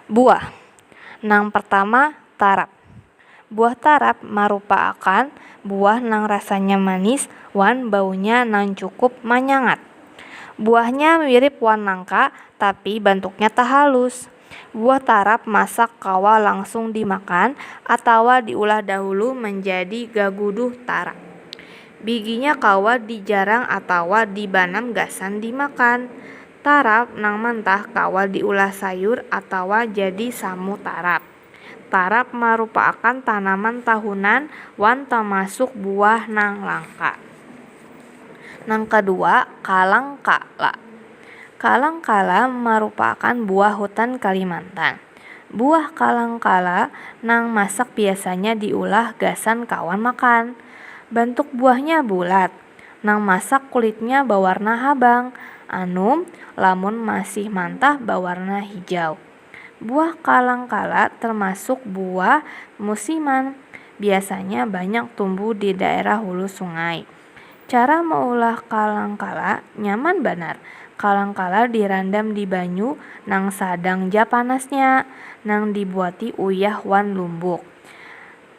Buah nang pertama tarap. Buah tarap marupa akan buah nang rasanya manis wan baunya nang cukup manyangat. Buahnya mirip wan nangka tapi bantuknya tahalus. Buah tarap masak kawa langsung dimakan atawa diulah dahulu manjadi gaguduh tarap. Biginya kawa dijarang atawa dibanam gasan dimakan. Tarap nang mantah kawa diulah sayur atawa jadi samu tarap. Tarap marupaakan tanaman tahunan wan tamasuk buah nang langka. Nang kadua, kalangka. Kalang Kala marupakan buah hutan Kalimantan. Buah kalang kala nang masak biasanya diulah gasan kawan makan. Bantuk buahnya bulat. Nang masak kulitnya bawarna habang, anum lamun masih mantah bawarna hijau. Buah kalang kala termasuk buah musiman, biasanya banyak tumbuh di daerah hulu sungai. Cara maulah kalang kala nyaman banar. Kalang kala dirandam di banyu nang sadang ja panasnya, nang dibuati uyah wan lumbuk.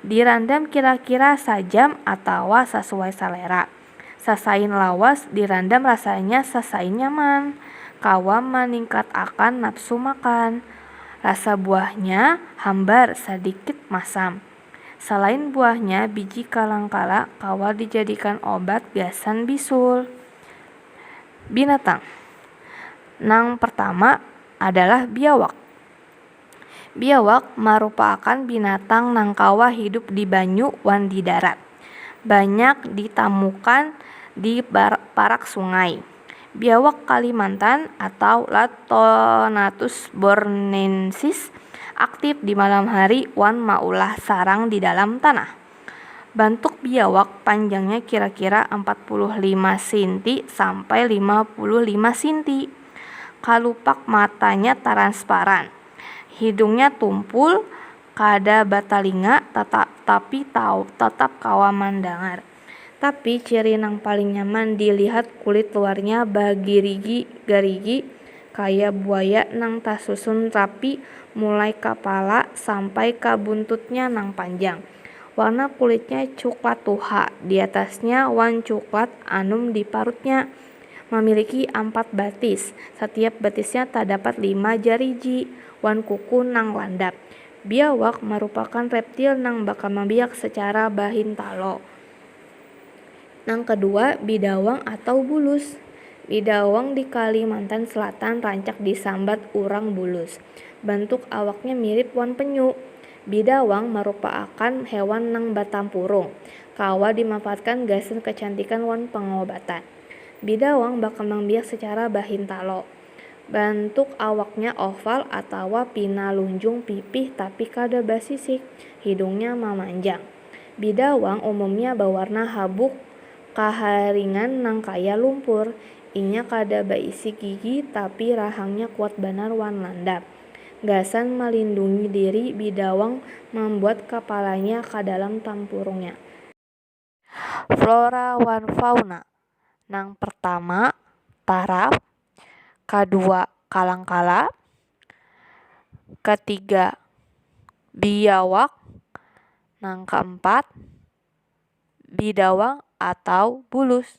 Dirandam kira-kira sajam atawa sasuai salera. Sasain lawas dirandam rasanya sasain nyaman, kawa maningkatakan nafsu makan. Rasa buahnya hambar, sadikit masam. Salain buahnya, biji kalang-kala kawa dijadikan obat gasan bisul. Binatang nang pertama adalah biawak. Biawak marupaakan binatang nang kawa hidup di banyu wan di darat. Banyak ditamukan di parak sungai. Biawak Kalimantan atau Lathonatus borneensis aktif di malam hari wan maulah sarang di dalam tanah. Bantuk biawak panjangnya kira-kira ampat puluh lima sinti sampai lima puluh lima sinti. Kalupak matanya taransparan. Hidungnya tumpul, kada batalinga, tata tapi taw tatap kawa mandangar. Tapi ciri nang paling nyaman di lihat kulit luarnya bagirigi garigi kaya buaya nang tasusun rapi mulai kapala sampai ka buntutnya nang panjang. Warna kulitnya cuklat tuha di atasnya wan cuklat anum di parutnya. Mamiliki ampat batis, satiap batisnya tadapat lima jariji wan kuku nang landap. Biawak marupakan reptil nang bakamabiak sacara bahintalo. Nang kadua, bidawang atau bulus. Bidawang di Kalimantan Selatan rancak disambat urang bulus. Bantuk awaknya mirip wan penyu. Bidawang marupaakan hewan nang batampurung, kawa dimanfaatkan gasan kacantikan wan pangobatan. Bidawang bakambang biak sacara bahintalo. Bantuk awaknya oval atawa pina lunjung pipih tapi kada basisik. Hidungnya mamanjang. Bidawang umumnya bawarna habuk kaharingan nang kaya lumpur. Inya kada baisi gigi tapi rahangnya kuat banar wan landap. Gasan malindungi diri bidawang mambuat kapalanya ka dalam tampurungnya. Flora wan fauna nang pertama taraf, kadua kalangkala, katiga biawak, nang keempat bidawang atau bulus.